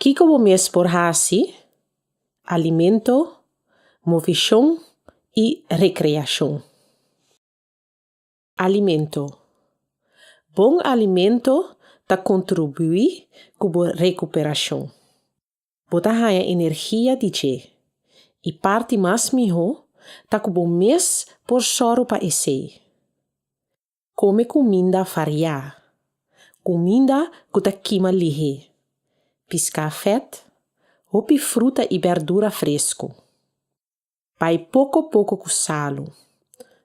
Kiko bo mes por hasi? Alimento, movishon i rekreashon. Alimento. Bon alimento ta kontribuí ku bo rekuperashon. Bo ta haña energia di dje. I parti mas mihó ta ku bo mes por sòru pa esei. Kome kuminda variá. Kuminda ku ta kima lihé. Piská fèt, hopi fruta i bèrdura fresku. Bai poko poko ku salu.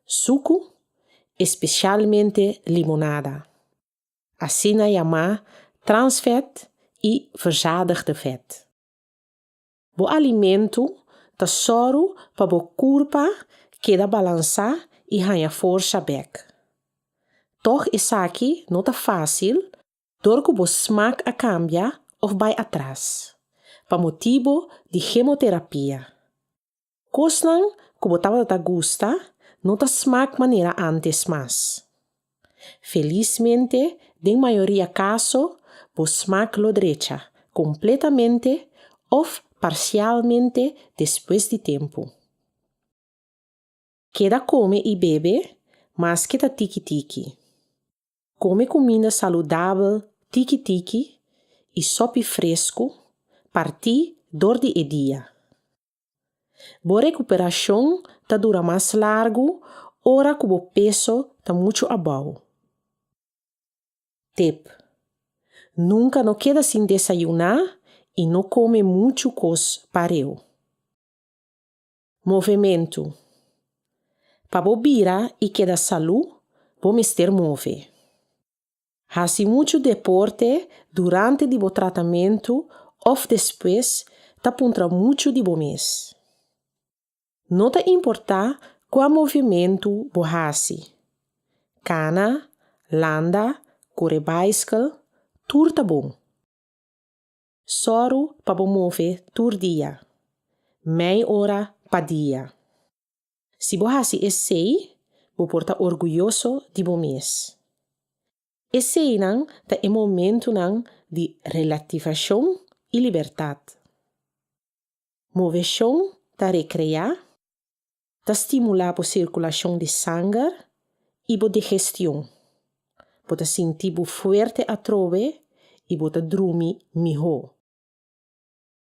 Suku, espesialmente limonada. Asina yamá transvet i verzadigde vet. Bo alimentu ta sòru pa bo kurpa keda balansá i haña forsa bèk. Tòg esaki no ta fásil dor ku bo smak a kambia òf bai atras, pa motibu di gemoterapia. Kosnan ku bo tabata ta gusta no ta smak manera ántes mas. Felismente, den mayoria kaso bo smak lo drecha kompletamente òf parsialmente despues di tempu. Keda kome i bebe maske ta tiki tiki. Kome kuminda saludabel tiki tiki i sòpi fresku partí dor di e dia. Bo rekuperashon ta dura mas largu ora ku bo peso ta muchu abou. Tip, Nunka no keda sin desayuná i no kome muchu kos pareu. Movementu, Pa bo bira i keda salú, bo mester move. Hasi muchu deporte durante di bo tratamentu òf despues ta puntra muchu di bo mes. No ta importá kua movimentu bo hasi, kana, landa, kore baiskel, tur ta bon. Sòru pa bo move tur dia. Mei ora pa dia. Si bo hasi esei, bo por ta orguyoso di bo mes. Eseinan ta e momentunan di relativashon i libertat. Moveshon ta rekreá Ta stimulá bo sirkulashon di sanger i bo digestion. Bo ta sinti bo fuerte atrobe i bo ta drumi mihó.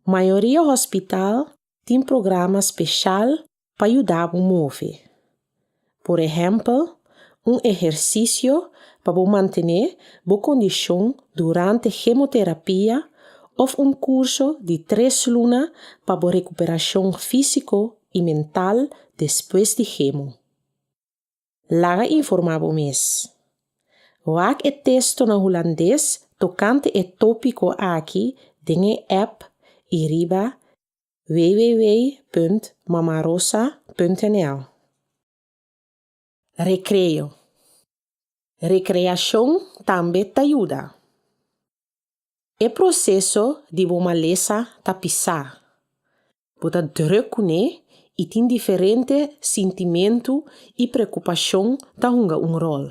Mayoria hospital tin programa speshal pa yuda bo move. Por ehèmpel, un ehersisio pa bo mantené bo kondishon durante hemoterapia òf un kurso di tres luna pa bo rekuperashon físiko y mental despues di hemo. Laga informa bo mes. Wak e testonan Hulandes tocante e topico aki den e app y riba www.mamarosa.nl. Recreo. Recreashon tambe ta yuda. E proseso di bo malesa ta pisá. Bo ta drùk ku ne i tin diferente sintimentu i preokupashon ta hunga un ròl.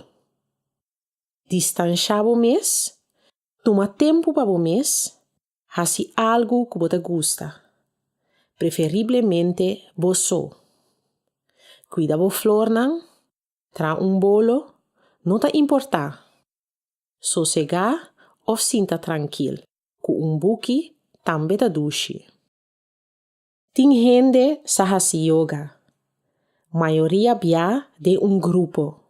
Distanshá bo mes, tuma tempu pa bo mes Hasi algu ku bo ta gusta, preferiblemente bo so. Kuida bo flornan, traha un bolo, no ta importá, sosegá òf sinta trankil ku un buki tambe ta dushi. Tin hende sa hasi yoga, mayoria bia den un grupo.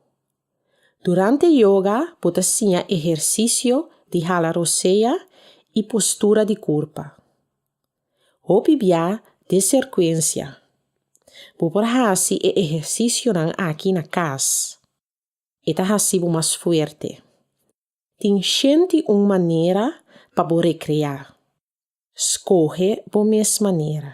Durante yoga bo ta siña ehersisio di hala rosea i postura di kurpa. Hopi bia den serkuensia. Bo por hasi e ehersisionan aki na kas. E ta hasi bo mas fuerte. Tin shenti un manera pa bo rekreá. Skohe bo mes manera.